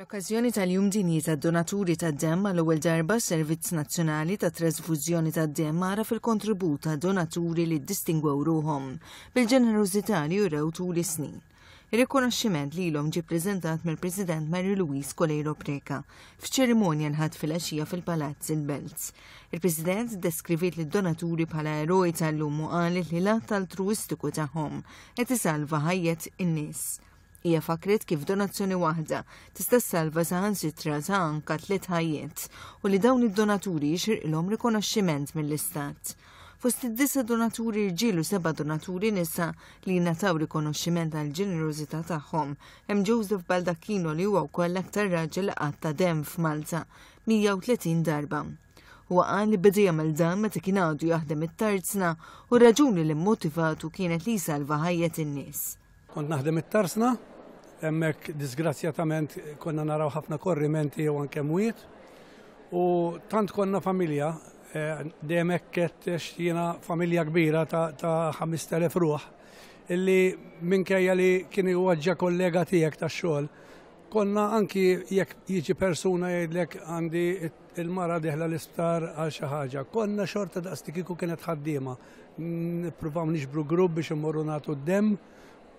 Fl-okkażjoni tal-Jum Dinji tad-Donaturi tad-Demm għal ewwel darba Servizz Nazzjonali ta' Trasfużjoni tad-Demm ara fil-kontribut ta' donaturi li ddistingwew ruhom bil-ġenerużità li jurew tul is-snin. Ir-rikonoxximent lilhom ġie ppreżentat mill-President Mary Louise Coleiro Preca f'ċerimonja nħadd filgħaxija fil-Palazz il-Belt. Il-President deskriviet lid-donaturi bħala eroj tal-lum u qalet li l-att altruistiku tagħhom qed isalva ħajjet in-nies. Hija fakkret kif donazzjoni waħda tista' ssalva saħansitra sa anka tliet ħajjiet u li dawn id-donaturi jixirqilhom rikonoxximent mill-Istat. Fost id-disa donaturi rġiel u seba' donaturi nisa li jingħataw rikonoxximent għal ġenerożità tagħhom hemm Joseph Baldacchino li huwa wkoll l-aktar raġel li qatt ta' demm f'Malta, 130 darba. Huwa qal li beda jagħmel dan meta kien għadu jaħdem it-tarzna u r-raġuni li mmotivatu kienet li jsalva ħajjet in-nies. Kont naħdem it-Tarsna, hemmhekk disgrazzjatament konna naraw ħafna korrimenti jew anke mwiet. U tant konna familja, eh, dejjem hekk xtina familja kbira ta' 5000 ruħ, illi minkejja li kien iwaġġa kollega tiegħek tax-xogħol, konna anki jekk jiġi persuna jgħidlek għandi il-mara diħla l-isptar għal xi ħaġa, konna xorta daqstikiku kienet ħaddiema. Nippruvaw niġbru grupp biex immorru nagħtu d-demm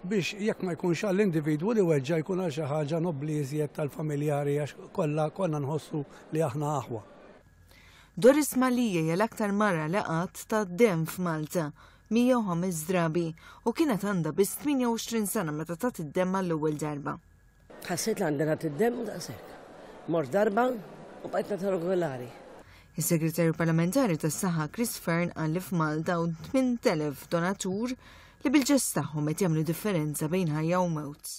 biex jekk ma jkunx għall-individwu li weġġa' jkun għal xi ħaġa nobbli iżjed tal-familjari għax kollha konna nħossu li aħna aħwa. Doris Mallie hija l-aktar mara li qatt tat demm f'Malta, 105 drabi, u kienet għandha biss 28 sena meta tat id-demm għall-ewwel darba. Ħassejt li għandi nagħti d-demm u daqshekk. Mort darba u bqajt nagħtiha regolari. Is-Segretarju Parlamentari tas-Saħħa Chris Fearne qal li f'Malta hawn 8,000 donatur li bil-ġest tagħhom qed jagħmlu differenza bejn ħajja u mewt.